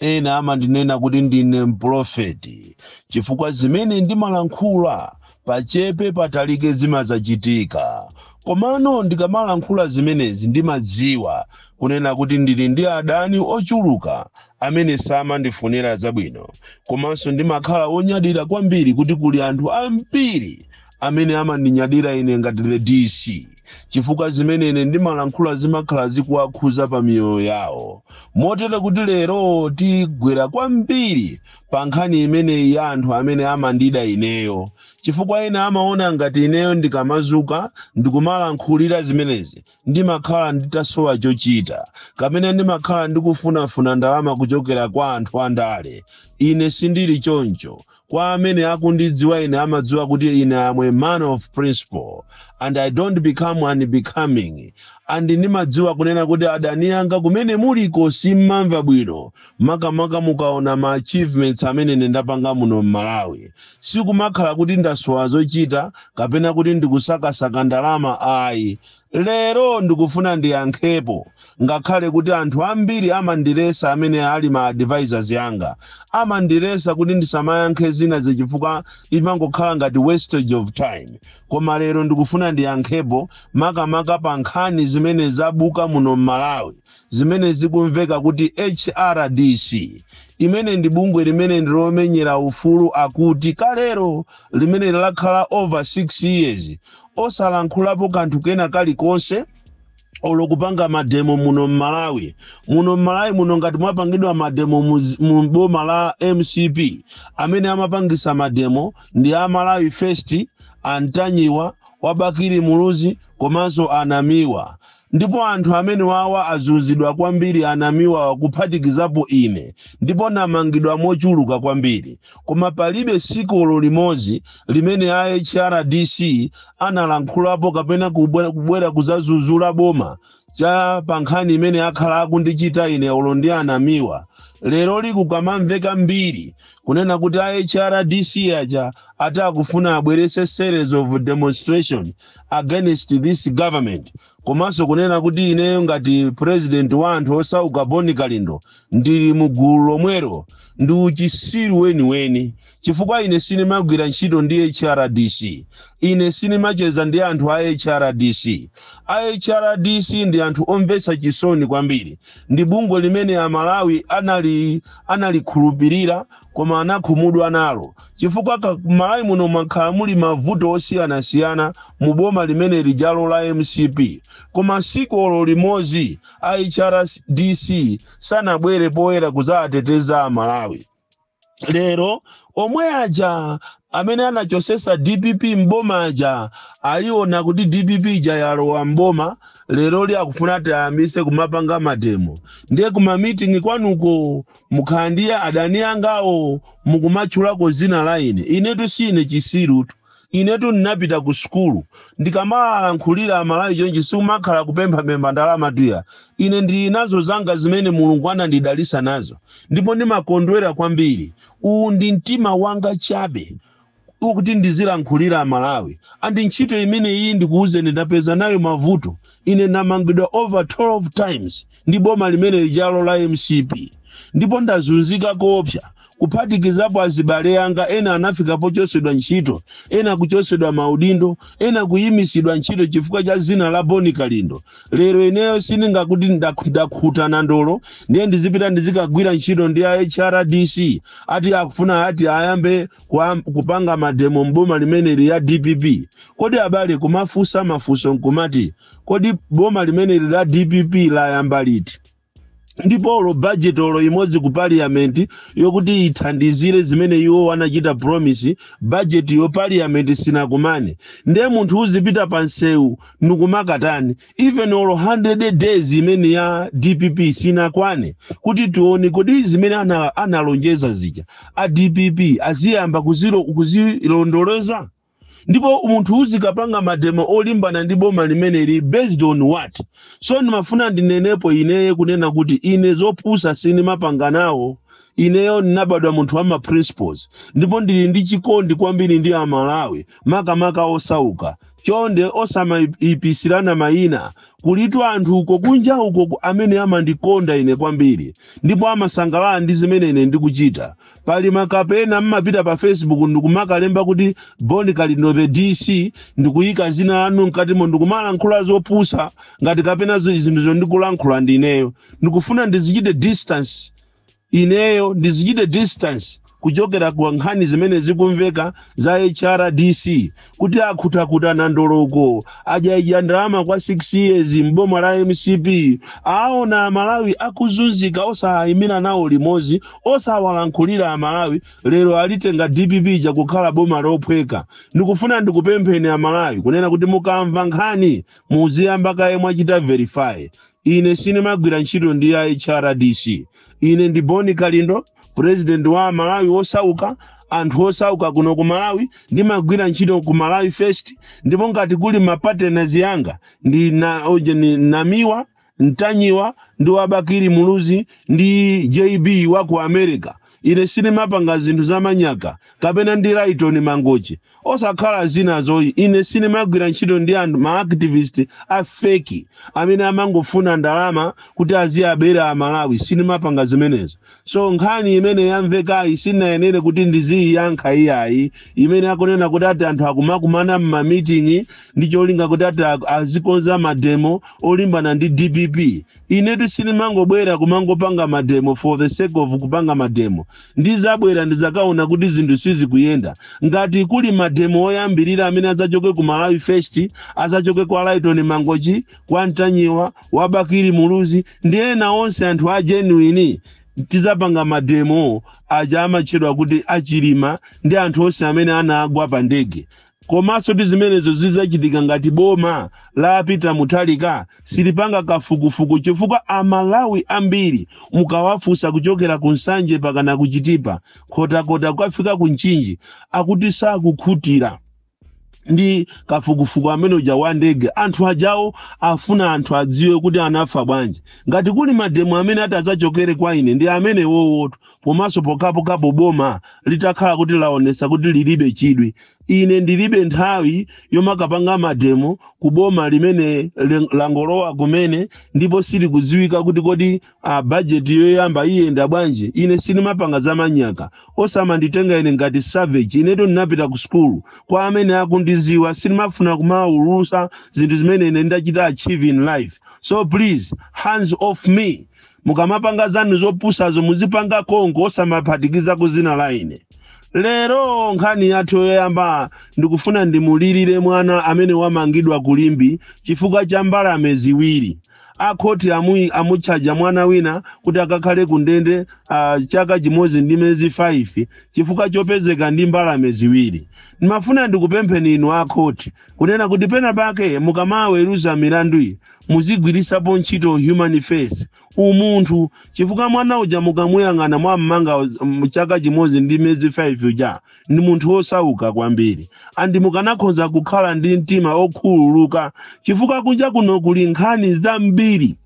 Ena amandinena kuti ndine mpulofeti chifukwa zimene ndimalankhula pachepe patalike zimadzachitika. Komano ndikamalankhula zimenezi ndimadziwa kunena kuti ndili ndi adani ochuluka amene samandifunira zabwino. Komanso ndimakhala wonyadira kwambiri kuti kuli anthu ambiri amene amandinyadira ine ngati the dc chifukwa zimene ine ndimalankhula zimakhala zikuwakhuza pa miyoyo yawo motero kuti lero tigwera kwambiri pa nkhani imeneyi ya anthu amene amandida ineyo chifukwa ena amaona ngati ineyo ndikamazuka ndikumalankhulira zimenezi ndimakhala nditasowa chochita kapena ndimakhala ndikufunafuna ndalama kuchokera kwa anthu andale ine sindili choncho Kwa amene akundidziwa ine amadziwa kuti ine am a man of principle and I don't become unbecoming and ndimadziwa kunena kuti adani anga kumene muliko simmamva bwino makamaka mukaona ma achievements amene ine ndapanga muno m'Malawi. Sikumakhala kuti ndasowa zochita kapena kuti ndikusakasaka ndalama ayi. lero ndikufuna ndiyankhepo ngakhale kuti anthu ambiri amandilesa amene ali ma advisors anga amandilesa kuti ndisamayankhe zina zichifukwa imangokhala ngati wastage of time koma lero ndikufuna ndiyankhepo makamaka pa nkhani zimene zabuka muno m'malawi zimene zikumveka kuti hrdc imene ndi bungwe limene ndilomenyera ufulu akuti kalero limene lakhala over 6 years osalankhulapo kanthu kena kalikonse olo kupanga mademo muno mmalawi muno mmalawi muno ngati mwapangidwa mademo mu boma la mcp amene amapangisa mademo ndi a malawi first a ntanyiwa a bakili muluzi komanso a namiwa Ndipo anthu amenewawa azunzidwa kwambiri a Namiwawa kuphatikizapo ine ndipo namangidwa mochuluka kwambiri koma palibe siku olo limozi limene a HRDC analankhulapo kapena kubwera kuzazuzula boma cha pa nkhani imene akhala akundichita ine olo ndi a Namiwa leroli kukamamveka mbiri kunena kuti a HRDC aja ati akufuna abwerese series of demonstration against this government komanso kunena kuti ineyo ngati president wa anthu osauka bon kalindo ndili mu gulu lomwelo ndi uchisiru weniweni chifukwa ine sinimagwira ntchito ndi hrdc ine sinimacheza ndi anthu a hrdc a hrdc ndi anthu omvetsa chisoni kwambiri ndi bungwe limene amalawi analikhulupirira koma anakhumudwa nalo chifukwa ka- m'malawi muno mwakhala muli mavuto osiyanasiyana mu boma limene lijalo la mcp koma siku olo limodzi a hrdc sanabwere poyera kudzawateteza amalawi lero omwe aja amene anachotsetsa dpp mboma aja aliona kuti dpp ija yalowa mboma lero li akufuna tiyambise kumapanga mademo ndiye kumamitingi kwanuko mukhala ndi adani angawo mukumatchulako dzina la ine inetu si ine chitsirutu inetu ndinapita ku sukulu ndikamalankhulira amalawi chonchi sikumakhala kupemphapempha ndalama tuya ine ndili nazo zanga zimene mulungu anandidalisa nazo ndipo ndimakondwera kwambiri uwu ndi mtima wanga chabe kuti ndizilankhulira amalawi and ntchito imeneyi ndikuwuzeni ndapeza nayo mavuto ine ndamangidwa over 12 times ndi boma limene lijalo la mcp ndipo ndazunzika koopsa kuphatikizapo azibale anga ena anafika pochotsedwa ntchito ena kuchotsedwa maudindo ena kuyimitsidwa ntchito chifukwa cha dzina la boni kalindo lero ineyo sindingakuti ndak- ndakhuta nandolo ndiye ndizipita ndizikagwira ntchito ndi a hrdc ati akufuna ati ayambe kupanga mademo mboma limeneli ya dpp kodi abale kumafunsa mafunso nkumati kodi boma limeneli la dpp layamba liti ndipo olo budget olo imodzi ku parliament yokuti ithandizire zimene iwo wanachita promise budget yo parliament sinakumane ndiye munthu uzipita pa msewu ndikumakatani even olo 100 days imene ya dpp sinakwane kuti tione kodi zimene ana- analonjeza zija a dpp aziyamba kuzilo- kuzilondoloza ndipo munthu uzikapanga mademo olimbana ndi boma limeneli based on what so ndimafuna ndinenepo ineyo kunena kuti ine zopusa sindimapanga nawo ineyo ndinabadwa munthu wa ma principles ndipo ndili ndi chikondi kwambiri ndi amalawi makamaka osauka chonde osamayipisirana mayina kulitu anthu uko kunja uko ku- amene amandikonda ine kwambiri ndipo amasangalala ndi zimene ine ndikuchita pali makapena mmapita pa facebook ndikumakalemba kuti boni kalindo the dc ndikuyika dzina lanu mkatimo ndikumalankhula zopusa ngati kapena zi- zinthu zimene ndikulankhula ndineyo ndikufuna ndizichite distance Ineyo ndizichite distance kuchokera kwa nkhani zimene zikumveka za HRDC kuti akhutakhuta nandolo uko adyaidya ndalama kwa 6 years m'boma la mcp aona amalawi akuzunzika osayimira nawo limodzi osawalankhulira amalawi lero alitenga dpp ija kukhala boma lophweka ndikufuna ndikupempheni amalawi kunena kuti mukamva nkhani muziyamba kaye mwachita verify ine sinimagwira ntchito ndi a hrdc ine ndi bon kalindo president wa malawi wosauka anthu osauka kuno ku malawi ndimagwira ntchito ku malawi first ndipo ngati kuli mapartners anga ndi a ojeni namiwa ntanyiwa ndi wa bakili muluzi ndi jb wa ku america Ine sinimapanga zinthu za manyaka, kapena ndi Lytton Mangochi, osakhala zinazo. Ine sinimagwira ntchito ndi anthu ma activist a fake amene amangofuna ndalama kuti aziabera a Malawi. Sinimapanga zimenezo. So nkhani imene yamvekayi sindiyenera kuti ndiziyiyankha iyayi, imene akunena kuti ati anthu akumakumana m'ma meeting ndi cholinga kuti ati a- azikonza mademo olimbana ndi DPP. Inetu sindimangobwera kumangopanga mademo for the sake of kupanga mademo. Ndizabwera ndizakaona kuti zinthu sizikuyenda. Ngati kuli mademo oyambirira amene adzachoke ku Malawi First, adzachoke kwa Lytton Mangochi, kwa Ntanyiwa, wa Bakili Muluzi, ndi ena onse anthu a genuine tizapanga mademo aja amatchedwa kuti a Chilima ndi anthu onse amene anagwa pa ndege Komansotu zimenezo zizachitika ngati boma la Peter Mutharika silipanga kafukufuku chifukwa a Malawi ambiri mukawafusa kuchokera ku Nsanje pakana ku Chitipa Nkhotakota kukafika ku Mchinji akuti sakukhutira ndi kafukufuku ameneuja wa ndege anthu ajawo afuna anthu adziwe kuti anafa bwanji ngati kuli mademo amene atazachokere kwa ine ndi amenewowotu komanso pokhapokhapo boma litakhala kuti laonesa kuti lilibe chidwi ine ndilibe nthawi yomakapanga mademo ku boma limene len- langolowa kumene ndipo silikudziwika kuti kodi a bajeti yoyamba iyenda bwanji ine sinimapanga za manyaka osamanditenga ine ngati savage inetu ndinapita ku sukulu kwa amene akundiziwa sinimafuna kumaulusa zinthu zimene ine ndachita achieve in life so please hands off me mukamapanga zanu zopusazo muzipanga konko osamaphatikiza ku dzina la ine lero nkhani yathu yoyamba ndikufuna ndimulirire mwana amene wamangidwa ku limbe chifukwa cha mbalame ziwiri akhoti amu, amutchaja mwana wina kuti akakhale ku ndende uh, chaka chimodzi ndi mezi 5 chifukwa chopezeka ndi mbalame ziwiri ndimafuna ndikupempheni inu akhoti kunena kuti pena pake mukamaweruza milandu iyi Muzigwiritsapo ntchito human face, umunthu, chifukwa mwana uja mukamuyang'ana mwammanga, mm, chaka chimodzi ndi miyezi 5 uja ndi munthu wosauka kwambiri and mukanakhoza kukhala ndi mtima okhululuka chifukwa kunja kuno kuli nkhani zambiri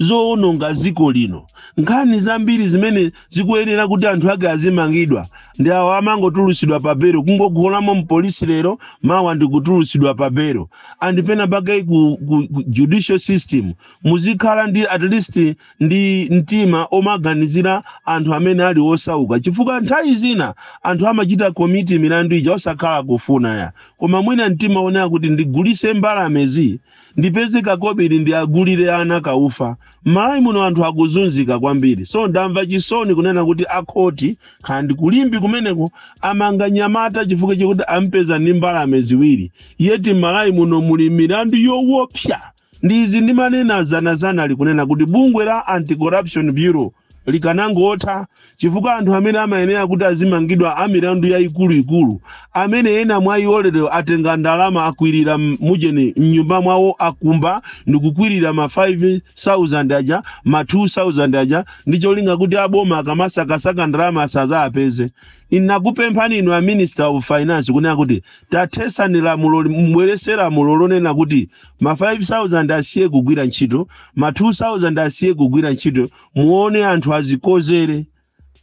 zowononga dziko lino nkhani zambiri zimene zikuyenera kuti anthu ake azimangidwa ndi awo amangotulutsidwa pa belo kungogolamo mpolisi lero mawa ndikutulutsidwa pa belo and pena pake ku, ku, ku judicial system muzikhala ndi at least ndi mtima omaganizira anthu amene ali osauka chifukwa nthawi zina anthu amachita commit milandu ija osakhala kufuna ayi koma mwina mtima onena kuti ndigulise mbalamezi ndipeze kakobiri ndikagulire ana kaufa m'malawi muno anthu akuzunzika kwambiri so ndamva chisoni kunena kuti akhoti kaya ndi ku limbe kumeneko amanga mnyamata chifukwa chakuti ampeza ndi mbalame ziwiri yet m'malawi muno muli milandu yowopsa ndi izi ndimanena dzanadzanali kunena kuti bungwe la anti-corruption bureau likanangotha chifukwa anthu amene amayenera kuti azimangidwa a milandu yayikuluikulu amene ena mwa iwo lero atenga ndalama akwirira m- mujeni mnyumba mwawo akumba ndikukwirira ma 5000 aja ma 2000 aja ndi cholinga kuti aboma akamasakasaka ndalama asazaapeze ndinakupemphani inu a minister of finance kunena kuti tathesani lamuloli mubwerese lamulo lonena kuti ma 5000 asiye kugwira ntchito ma 2000 asiye kugwira ntchito muone anthu azikodzere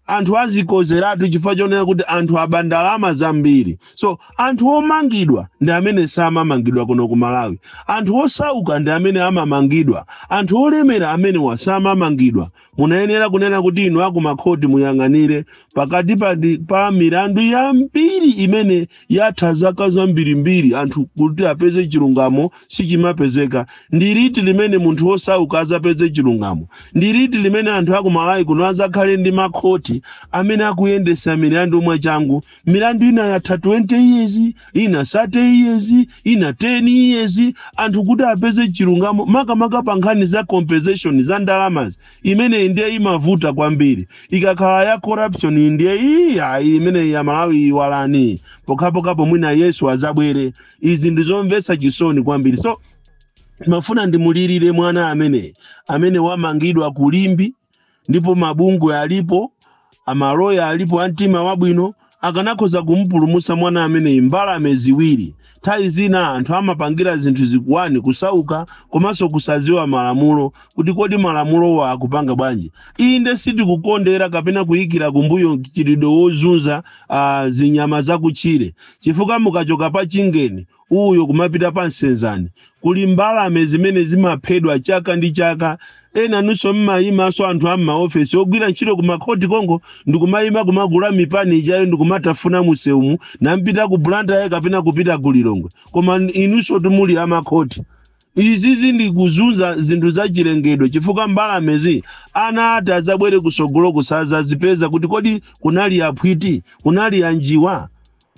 anthu azikodzeratu chifukwa chonena kuti anthu aba ndalama zambiri so anthu omangidwa ndi amene samamangidwa kuno ku malawi anthu osauka ndi amene amamangidwa anthu olemera amenewa samamangidwa munayenera kunena kuti inu akumakhoti muyang'anire pakati pa, ndi- pa milandu yambiri imene yatha zaka zambirimbiri anthu kuti apeze chilungamo sichimapezeka ndi liti limene munthu wosauka azapeze chilungamo ndi liti limene anthu akumalawi kuno azakhale ndi makhoti amene akuyendesa milandu mwachangu milandu ina yatha 20 years ina 30 years ina 10 years anthu kuti apeze chilungamo makamaka pa nkhani za compensation za ndalamazi imeneyi ndiye imavuta kwambiri ikakhala ya corruption iyi ndiye iyi ayi imeneyi ya malawi iwalani pokhapokhapo mwina yesu azabwere izi ndizomvetsa chisoni kwambiri so ndimafuna ndimulirire mwana amene amene wamangidwa ku limbe ndipo mabungwe alipo amaloya alipo a mtima wabwino akanakhoza kumupulumutsa mwana ameneyi mbalame ziwiri nthawi zina anthu amapangira zinthu chifukwa ndi kusauka komanso kusadziwa malamulo kuti kodi malamulowa akupanga bwanji inde sitikukondera kapena kuyikira kumbuyo mchitidwe wozunza uh, zinyama zakutchire chifukwa mukachoka pa chingeni uyo kumapita pa nsenzani kuli mbalame zimene zimaphedwa chaka ndi chaka ena nunso mmayimanso anthu a mmaofesi ogwira ntchito ku makhoti kongo ndikumayima kumagula mipani ijayo ndikumatafuna musewumu mukupita ku blantyre kapena kupita ku lilongwe koma inunso tumuli amakhoti izizi ndi kuzunza zinthu za chilengedwe chifukwa mbalamezi ana ati azabwere kusogolo kusazazipeza kuti kodi kunali aphwiti kunali anjiwa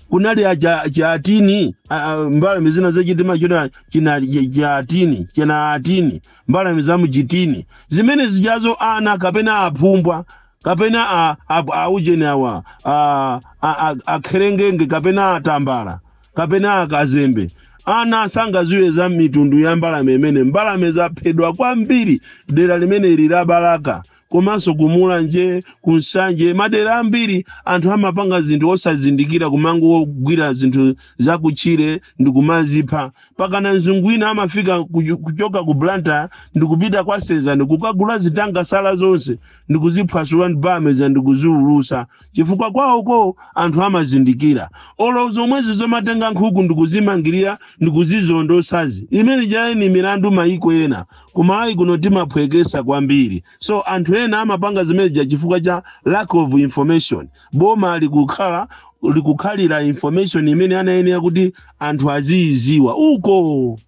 kunali aja aja atini a- a- mbalame zina zachitima chona china cha atini china atini mbalame za mchitini zimene zijazo ana kapena aphumbwa kapena a- a- aujeni awa a- a- a- akherengenge kapena atambala kapena akazembe ana sangaziwe za mitundu ya mbalame imene mbalame zaphedwa kwambiri dera limene ili la balaka komanso ku mulanje ku nsanje madera ambiri anthu amapanga zinthu osazindikira kumangogwira zinthu zakutchire ndi kumazipha pakana mzungu wina amafika kuchu- kuchoka ku blantyre ndi kupita kwa senzani ndi kukagula zitangasala zonse ndi kuziphwasula ndi bameza ndi kuziulusa chifukwa kwawoko anthu amazindikira olo zomwezi zomatenga nkhuku ndi kuzimangirira ndi kuzizondosazi zimene zija ndi milandu mayiko ena kumalawi kuno timaphwekesa kwambiri so anthu ena amapanga zimeneja chifukwa cha lack of information boma likukhala likukhalira information imene anayenera kuti anthu aziyiziwa uko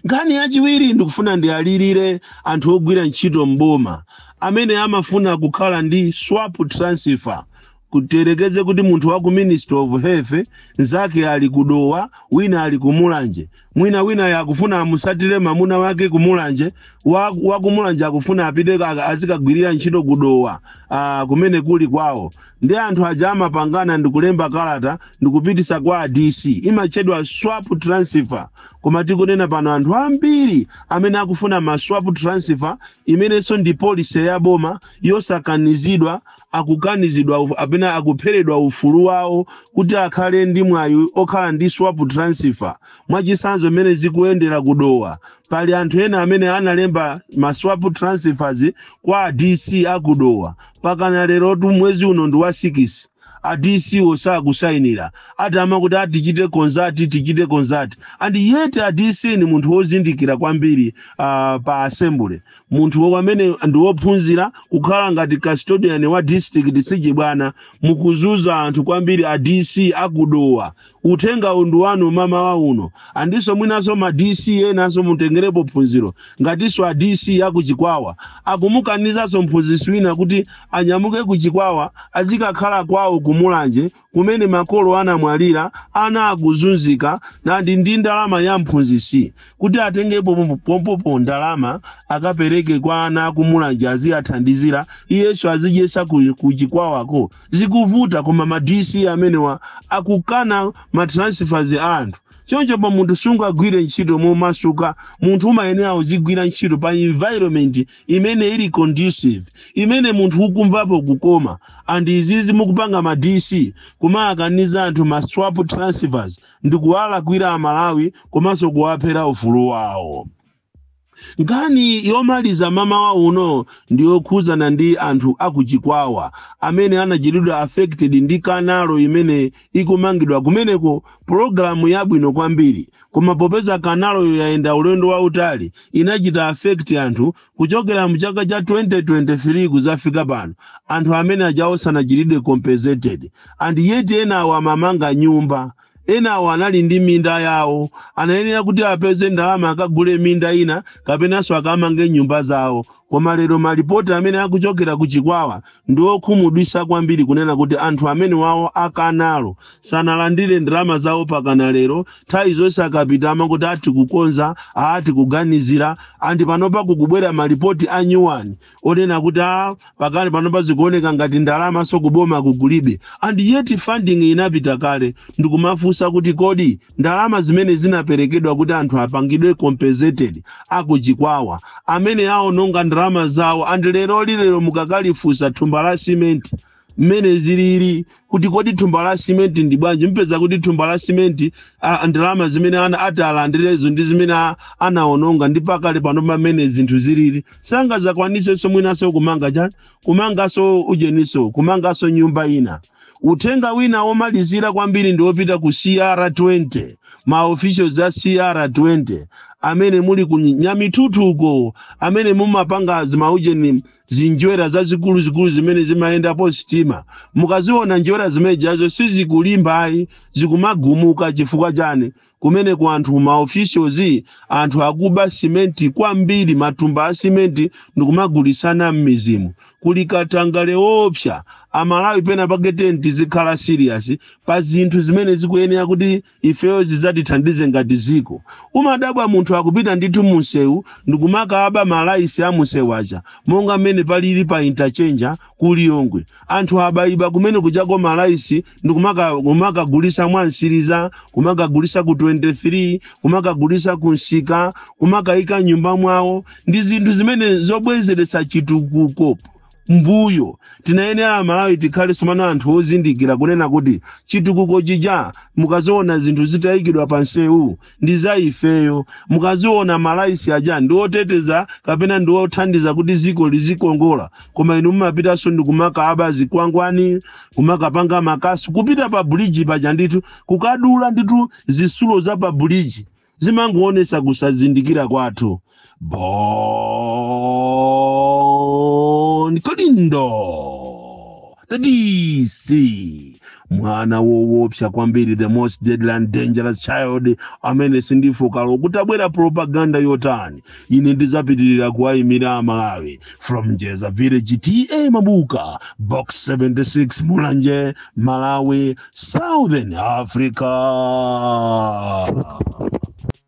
nkhani yachiwiri ndikufuna ndiyalirire anthu ogwira ntchito mboma amene amafuna kukhala ndi swap transfer kutiyerekeze kuti munthu wa ku ministry of health nzake ali kudowa wina ali kumulanje mwina wina ya kufuna amusatire mamuna wake kumulanje wa, wa kumulanje akufuna apite ka- azikagwirira ntchito kudowa ah, kumene kuli kwawo ndi anthu aja amapangana ndikulemba kalata ndikupitisa kwa a dc imatchedwa swap transfer koma tikunena pano anthu ambiri amene akufuna ma swap transfer imenenso ndi policy ya boma yosakanizidwa akukanizidwa uf- apena akupheredwa ufulu wawo kuti akhale ndi mwayi okhala ndi swap transfer mwachitsanzo mmene zikuyendera kudowa pali anthu ena amene analemba ma swap transfers kwa a dc akudowa pakana lerotu mwezi uno ndi wa 6 a dc wo sakusayinira ati amakuti tichite consult tichite consult and yet a dc ndi munthu wozindikira kwambiri uh, pa assembly munthu amene ndi wophunzira kukhala ngati custodian wa district sichibwana mukuzuza anthu kwambiri a dc akudowa uthengawu ndi wanu mama wa uno andiso mwinaso ma dc enaso mutengerepo phunziro ngatiso a dc akuchikwawa akumukanizaso mphunzisi wina kuti anyamuke kuchikwawa azikakhala kwawo kumulanje kumene makolo anamwalira ana akuzunzika nandi ndi ndalama ya mphunzitsi kuti atengepo pompopo ndalama akapereke kwa ana akumulanje aziyathandizira iyenso azidyesa ku chikwawako zikuvuta koma ma dc amenewa akukana ma transfers a anthu choncho pa munthu sungagwire ntchito momasuka munthu umayenera uzigwira ntchito pa environment imene ili conducive imene munthu ukumvapo kukoma and izizi mukupanga ma dc kumawakaniza anthu ma swap transfers ndi kuwalakwira amalawi komanso kuwaphera ufulu wawo nkhani yomaliza mamawa uno ndi yokhudzana ndi anthu akuchikwawa amene anachitidwa affected ndi kanalo imene ikumangidwa kumeneko pulogalamu yabwino kwambiri koma popeza kanaloyo yayenda ulendo wautali inachita affect anthu kuchokera mu chaka cha 2023 kuzafika pano anthu amene aja asanachitidwe compensated and yet enawo amamanga nyumba enawo anali ndi minda yawo anayenera kuti apeze ndalama akagule minda ina kapenanso akamange nyumba zawo koma lero malipoti amene akuchokera ku chikwawa ndi okhumudwisa kwambiri kunena kuti anthu amenewawo akanalo sanalandire ndalama zawo mpakana lero nthawi zonse akapita amangoti akukonza akuganizira and panopa kukubwera malipoti a nyuwani onena kuti a pakali panopa zikuoneka ngati ndalamaso kuboma kukulibe and yet funding inapita kale ndikumafunsa kuti kodi ndalama zimene zinaperekedwa kuti anthu apangidwe compensated akuchikwawa amene aononga ndalama zawo and lero lilero mukakalifusa thumba la simenti mmene zilili kuti kodi thumba la simenti ndi bwanji mpeza kuti thumba la simenti ndalama zimene ati alandirezo ndi zimene anaononga ndi pakali pano mmene zinthu zilili sangazakwaniseso mwinaso kumanga chani kumangaso ujeniso kumangaso nyumba ina Uthenga wina womalizira kwambiri ndi wopita ku CR20, ma officials a CR20 amene muli ku Nyamithuthuko, amene mumapanga zimaujeni zinjwera zazikuluzikulu zimene zimayendapo sitima. Mukaziona njwera zimenezo sizikulimba ayi, zikumagumuka chifukwa chani? kumeneko anthu ma officials anthu akuba simenti kwambiri matumba a simenti ndikumagulisana m'mizimo kuli katangale woopsa amalawi pena pake tetizikhala serious pa zinthu zimene zikuyenera kuti ifeyo zizatithandize ngati ziko umadabwa munthu akupita ndithu munsewu ndikumakaba malaisi a munsewu aja monga mmene palili pa interchange ku lilongwe anthu abaiba kumene kuchako malaisi ndi kumaka- kumakagulisa mwamseriza kumakagulisa ku 23 kumakagulisa ku msika kumakayika mnyumba mwawo ndi zinthu zimene zobwezeretsa chitukuko mbuyo tinayenera amalawi tikhale somano anthu ozindikira kunena kuti chitukuko chija mukaziona zinthu zitayikidwa pa nsewu ndi za ifeyo mukaziona malaitsi aja ndi oteteza kapena ndi othandiza kuti ziko lizikongola koma inu mumapitanso ndi kumakaba zikwangwani kumakapanga makasu kupita pa buliji paja ndithu kukadula ndithu zisulo za pa buliji zimangoonesa kusazindikira kwathu Bon Kalindo the DC mwana wowopsa kwambiri the most deadly and dangerous child amene sindifooka olo kutabwera propaganda yotani ine ndizapitirira kuwayimira amalawi from njeza village ta mabuka box 76 mulanje malawi southern africa